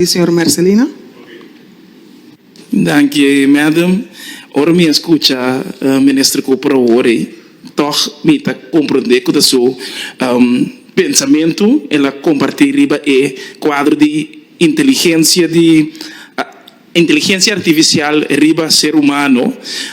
di señor Mercelina. Danki Madam, ora mi a skucha Minister Cooper awori, tòg mi ta komprondé ku ta su pensamentu el a kompartí riba e kuadro di inteligensia di inteligensia artifisial riba ser humano.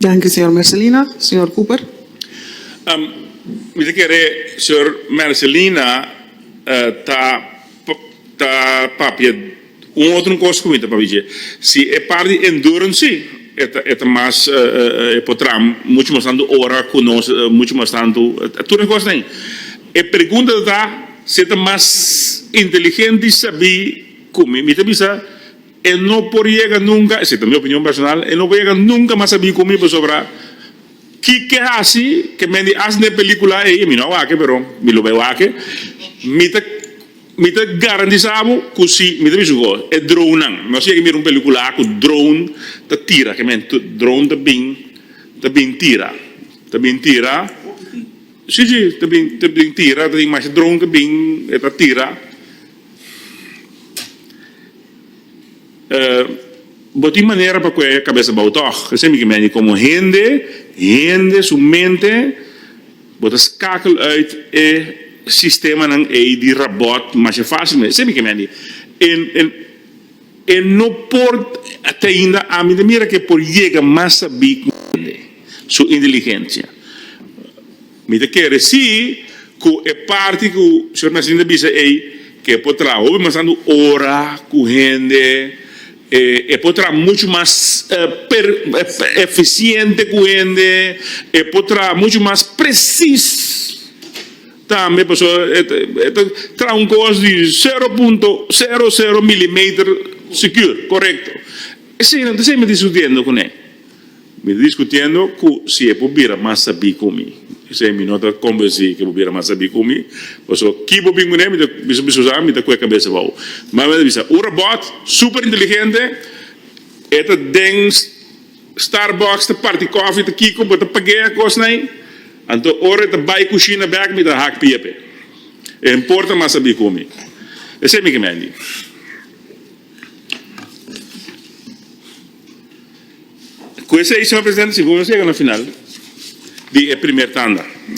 Danki señor Mercelina. Señor Cooper. Mi ta kere señor Mercelina ta ta papia un otro cos cu mi ta papich'e. Si e part di endurance si e ta e ta mas e por traha mucho mas tanto ora cu nos mucho mas tanto tur e cos na ayi. E pregunta ta si e ta mas inteligente sabi cu mi. Mi ta bisa. E no por yega nunka, esi ta mi opinion personal, e no por yega nunka mas a bin ku mi pasobra kiko hasi ke men di hasi n'e pelikula ei, mi no a wak pero mi lo bai wak, mi ta mi ta garantisa bo ku si mi ta bisa ku e dronenan, mi wòs yega mira un pelikula ku drone ta tira ke men drone ta bin ta bin tira ta bin tira si si ta bin ta bin tira ta tin masha drone ke bin e ta tira. Bo tin manera pa kue kabesa bou tòg? Esei mi ke meni komo hende, hende su mente, bo ta skakel uit e sistemanan ei di rabòt masha fásilmente. Esei mi ke meni. E e no por teinda ami ta mira ke por yega mas sabí ku hende, su inteligensia. Mi ta kere si ku e parti ku Señor Mesías ta bisa ei ke e por traha hopi mas tantu ora ku hende, e por traha muchu mas efisiente ku hende, e por traha muchu mas presis tambe pasobra e ta traha un kos di sero punto sero sero milimeter sikur, korekto. Eseinan ta siempre diskutiendo kuné. Mi diskutiendo cu si e por bira mas sabí cu mi. Esei mi no ta convencí cu e por bira mas sabí cu mi, pasobra ki bo bin cun'e mi ta bisa mi susa, mi ta cu e cabeza bou. Mami a bisa, Un robot super inteligente, e ta den Starbucks ta parti cofi ta kico, bo ta pag'e cosn'ei? Anto ora e ta bai cushina bek mi ta hak pia p'e. E a importa mas sabí cu mi. Esei mi ke menti. Cu esey, señor presidente, si bo nos yega na final di e primer tanda.